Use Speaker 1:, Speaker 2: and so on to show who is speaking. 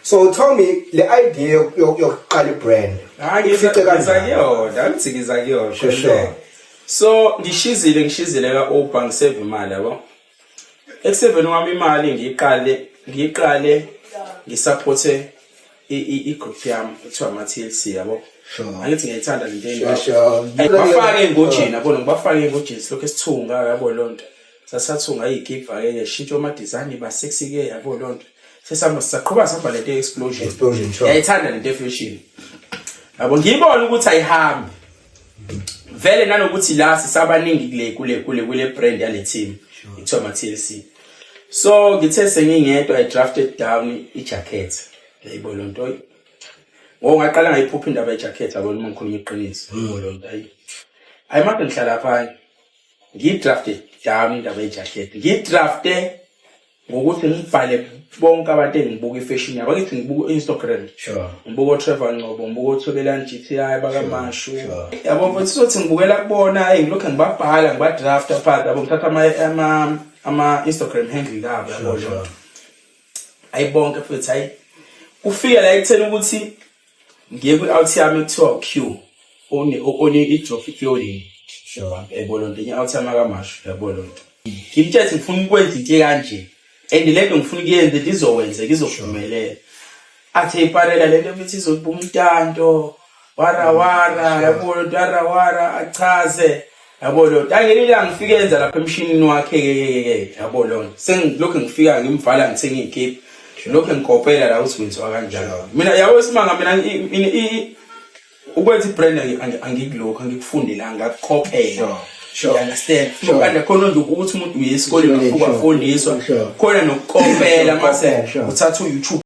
Speaker 1: so tell me le idea yok- yok- yokuqala ibrand ifice kanjani kuyona angithi
Speaker 2: ngiza kuyona Sure, sure.
Speaker 1: so
Speaker 2: ngishizile ngishizile ka-uber ngiseve imali yabo ekuseveni kwami imali ngiyiqale ngiyiqale ngisaphothe i- i- i-group yami kuthiwa ama-tlc yabo Sure. angithi
Speaker 1: ngiyayithanda le nto
Speaker 2: Sure, sure. Hey, bafake
Speaker 1: engojeni
Speaker 2: yabona ngibafake engojeni silokhu esithunga yabo loo nto sasathunga iyigiva ke yashintsha ama design iba sexy ke yabo lonto sesihamba sisaqhuba sihamba lento explosion Explosion, sure. yayithanda
Speaker 1: lento efashion
Speaker 2: yabo ngiyibona ukuthi ayihambi vele nanokuthi la sisabaningi kule kule kule kule brand yale team ikuthiwa ma TLC so ngithe sengingedwa i drafted down i jacket yayibo lonto ngoba ngaqala ngayiphupha indaba ye jacket yabo uma ngikhuluma iqiniso yayibo lonto ayi ayi manje ngihlala phansi ngiyidrafte dami indaba yejakhethi ngiyidrafte ngokuthi ngibhale bonke abantu engibuka ifashion yabo akithi ngibuka u-instagram ngibuka
Speaker 1: otrevor ncobo
Speaker 2: ngibuka othobelani g t i bakamashu yabo mfethu sothi ngibukela kubona eyi ngilokhu ngibabhala ngibadrafta phansi yabo ngithatha ama-instagram handle labo yabo loo nto ayi bonke futhi hayi kufika la ekutheni ukuthi ngiye kwi-out yami ekuthiwa u-q one ijofi clothing yabo
Speaker 1: loo nto enye out
Speaker 2: yami akamasho yabo loo nto ngimtshetse ngifuna ukwenza into ekanje and le nto ngifuna ukuyenze ndizowenza ngizophumelela athi eyiparela le nto futhi izoliba umtanto warawara yabo loo nto warawara achaze yabo loo nto angelinye ilanga ngifike yenza lapha emshinini wakhe kekekeke yabo loo nto sengilokhu ngifika ngimvala ngithenga iy'kiphi lokhu ngikopela la ukuthi wenziwa kanjalo mina yabo isimanga mina ukwenza i-brand angikulokhu angikufundelanga ngakukopela understand kanti khona nje ukuthi umuntu uye esikoleni afike afundiswa khona nokukopela mase uthatha u-youtube